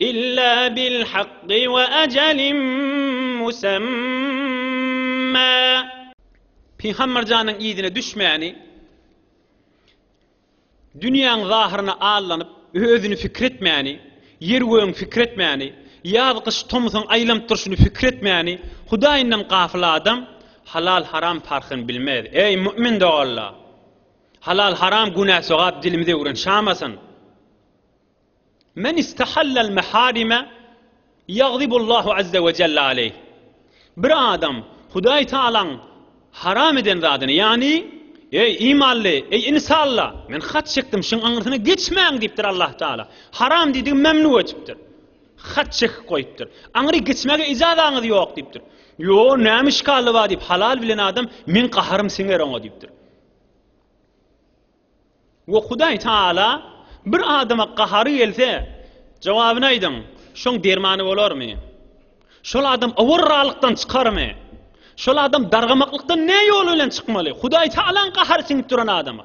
Illa bil hakky we ajalin musamma. Pygamber janyň yzyna düşmäni, dünýäň zahyryna allanyp, özüni pikir etmäni, ýer-gögüň pikir etmäni, ýaz-gyş, tomsuň aýlanyp durşuny pikir etmäni, Hudaýyndan gafyl adam halal-haram parhyny bilmez. Eý, mu'min doganlar! Halal-haram, günä-sogap dilimizi öwrenşamasyn. Men istahallal meharime ýagzibullahu azze we jelle aleyh. Bir adam Hudaý Tagalaň haram eden zadyny, ýagny, Eý, imanly, eý, insalla, men hat çekdim, şuň aňyrsyna geçmäň diýipdir Allah Tagala. Haram diýdigi memnu etipdir. Hat çekip goýupdyr. Aňyry geçmäge ijazaňyz ýok diýipdir. Ýo, näme işgally bar diýip, halal bilen adam, meň gaharym siňer oňa diýipdir. We Hudaý Tagala bir adama gahary gelse, jogabyny aýdyň, şoň dermany bolarmy? Şol adam owarralykdan çykarmy? Şol adam dargamaklykdan ne ýol bilen çykmaly? Hudaý Tagalaň gahary siňip duran adama.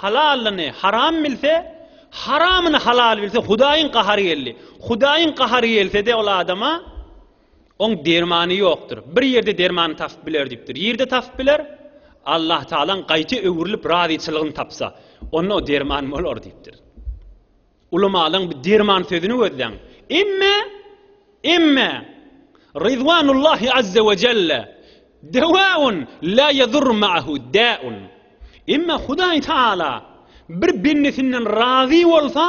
Halalyny haram bilse, haramyny halal bilse, Hudaýyň gahary geldi. Hudaýyň gahary gelse-de ol adama, Oň dermany ýokdur. Bir ýerde dermany tapyp biler diýipdir. Ýerde tapyp biler? Allahtagalaň gaýta öwrülip razyçylygyny tapsa, onda o derman bolar diýipdir. Ulamalarň bir derman sözüni gözleň. Emme, emme, Ridwanullahi azze we jelle, Dewaun la yadurru ma'ahu da'un. Emme Hudaý Taala bir bendesinden razy bolsa,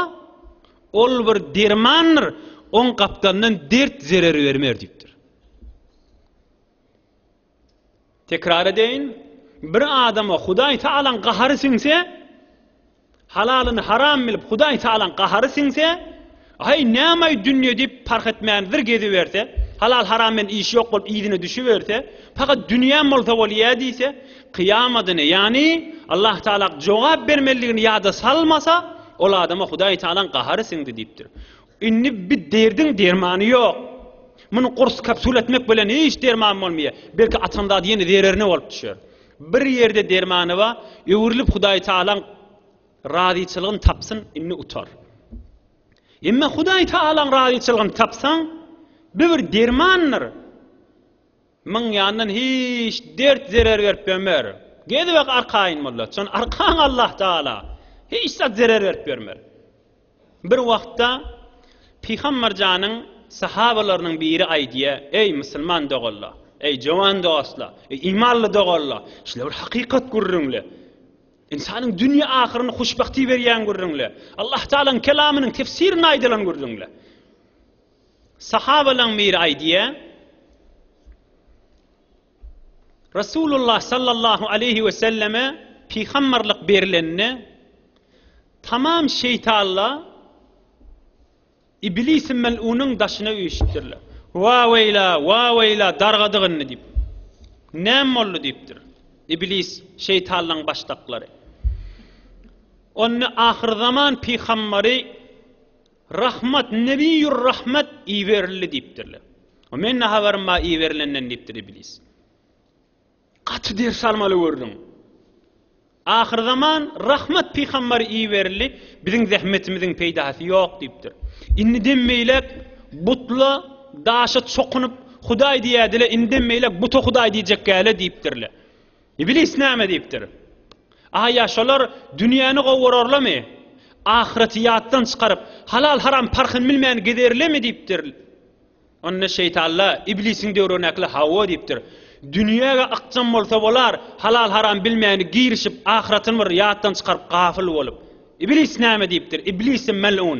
ol bir dermandyr, oň gapdalyndan dert zerer bermer diýipdir. Tekrar edeýin, bir adama Hudaý Tagalaň gahary siňse, halalyny haram bilip Hudaý Tagalaň gahary siňse, Aý, nämaý dünýe diýip parh etmän bir geziberse, halal haram bilen işi ýok bolup yzyna düşüberse, pakat dünýäm bolsa bolýa diýse, kyýamadyny, ýagny Allah Tagalak jogap bermelidigini ýada salmasa, ol adama Hudaý Tagalaň gahary siňdi diýipdir. Indi bi derdiň dermany ýok. Muny gurs kapsula etmek bilen hiç derman bolmaýar. Belki atan zady ýene zererine bolup düşer. Bir ýerde dermany bar, öwrülip Hudaý Tagalaň razyçylygyny tapsyn, indi utar. Emma Hudaý Tagalaň razyçylygyny tapsaň, bi bir dermandyr. Myň ýandan hiç dert zerer berip bermer. Gezibek arkaýyn bollar. Çon arkaň Allah Tagala. Hiç zat zerer berip bermer. Bir wagtda Pygambar janyň sahabalarynyň biri aýdýa, Eý, musulman doganlar! Eý, jowan dostlar! Eý, imanly doganlar! Şular bir hakykat gürrüňle. Ynsanyň dünýe ahyryny huşbagty berýän gürrüňle. Allah Tagalaň kelamynyň tefsirinde aýdylan gürrüňle. Sahabalaň biri aýdýa, Resulullah sallallahu aleýhi we selleme pygamberlik berilende tamam şeýtanlar Iblisi mel'unyň daşyna üýşüpdirler. Wa weýla, wa weýla dargadyk indi diýip. Näme boldy diýipdir. Iblis şeýtanlaryň başdaklary. Onda ahyrzaman pygamberi Rahmat, Nebiýur Rahmat iberildi diýipdirler. O men ne habarym bar iberilenden diýipdir iblis. Gaty ders almaly gördüň. Ahyrzaman Rahmat pygambar iberildi, biziň zähmetimiziň peýdasy ýok diýipdir. Indiden beýläk butla, daşa çokunyp Hudaý diýädile, indiden beýläk buta Hudaý diýjekgäle diýipdirler. Iblis näme diýipdir? A ýa şolar dünýäni gowurarlamy? Ahyreti ýatdan çykaryp, halal-haram parhyny bilmän gezerlemi diýipdir. Onda şeýtanla Iblisiň döwründäkiler hawa diýipdir. Dünýä-ge ykjam bolsa bolar, halal-haram bilmäni girişip, ahyretini bir ýatdan çykaryp, gafyl bolup. Iblis näme diýipdir? Iblisi mel'un.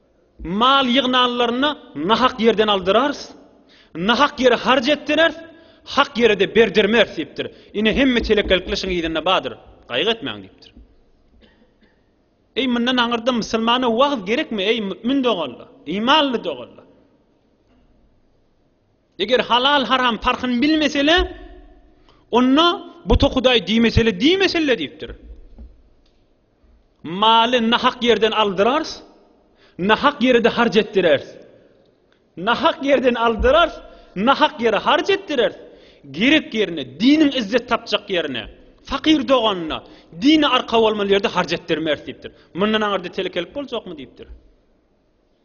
Mal ýygnanlaryny nahak ýerden aldyrarys, nahak ýere harç etdireris, hak ýere-de berdirmeris diýipdir. Ine, hemme telekelikler şuň yzynda bardyr. Gaýgy etmäň diýipdir. Eý, mundan aňyrda musulmana wagyz gerekmi, eý, mümin doganlar, imanly doganlar? Eger halal-haram parhyny bilmesele, onda buta hudaý diýmesele, diýmesele diýipdir. Maly nahak ýerden aldyrars, nahak ýere-de harç etdirers. Nahak ýerden aldyrars, nahak ýere harç etdirers. Gerek ýerine, diniň izzet tapjak ýerine, fakyr doganyna, dine arka bolmaly ýerde harç etdirmers diýipdir. Mundan aňyrda telekelik boljakmy diýipdir.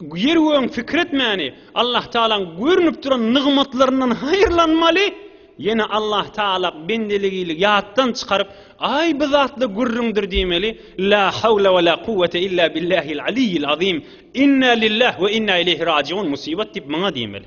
Ýeri gögüň pikir etmäni, Allah Tagalaň görnüp duran nygmatlaryndan haýyrlanmaly, ýene Allah Tagala bendeligili ýatdan çykaryp, Aý bu zatla gürrüňdir diýmeli, La hawla we la kuwwete illa billahil aliyyil azim, Inna lillah we inna ileýhi rajiun, Musibat diýip maňa diýmeli.